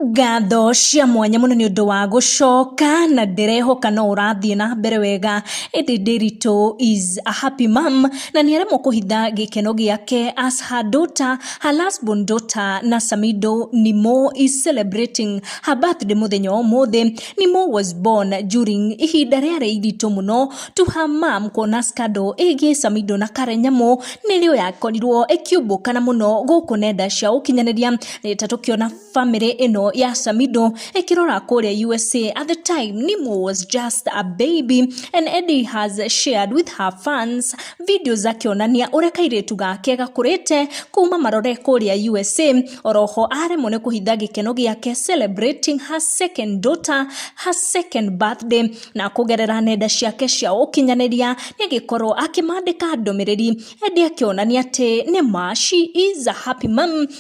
Ngatho cia mwanya mũno nĩ ũndũ wa gũcoka na ndĩrehoka no ũrathiĩ na mbere wega ĩndĩ Ndiritu is a happy mom na nĩ aremwo kũhitha gĩkeno gĩake as her daughter, her last born daughter na Samido Nimo is celebrating her birthday mũthenya wa ũmũthĩ. Nimo was born during ihinda rĩarĩ iritũ mũno to her mom kuona scandal ĩgiĩ Samido na Karen Nyamu nĩrĩo yakorirwo ĩkĩumbũkana mũno gũkũ nenda cia ũkinyanĩria nĩ ta tũkĩona family ĩno ya Samido ĩkĩrora kũrĩa USA at the time Nimo was just a baby and Eddie has shared with her fans videos akĩonania ũrĩa kairĩtu gake gakũrĩte kuma marore kũrĩa USA oroho aremwo nĩ kũhitha gĩkeno gĩake celebrating her second daughter her second birthday na kũgerera nenda ciake cia ũkinyanĩria nĩ agĩkorwo akĩmandĩka ndũmĩrĩri Eddie akĩonania atĩ nĩ ma she is a happy mom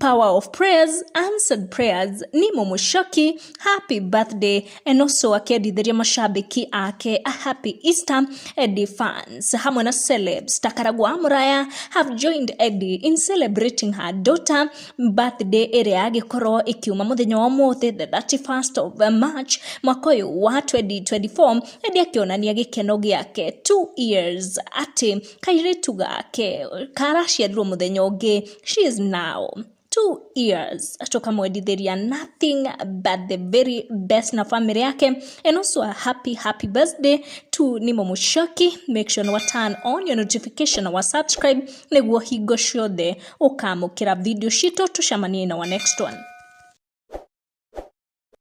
Power of prayers, answered prayers, Nimo Mushoki, happy birthday, and also akiendithĩria mashabiki ake a happy Easter, Eddie fans hamwe na celebs Takaragwa Muraya have joined Eddie in celebrating her daughter birthday ĩrĩa agĩkorwo ĩkiuma mũthenya wa mũthĩ the 31st of March mwaka ũyũ wa 2024 Eddie akĩonania gĩkeno gĩake 2 years atĩ kairĩtu gake karaciarirwo mũthenya ũngĩ, she is now two years, tũkamwendithĩria nothing but the very best na bamĩrĩ yake, and also a happy happy birthday to Nimo Mũchoki, make sure nĩ wa turn on your notification na wa subscribe, nĩguo hingo ciothe ũkamũkĩra video citũ, tũcemanie in our next one.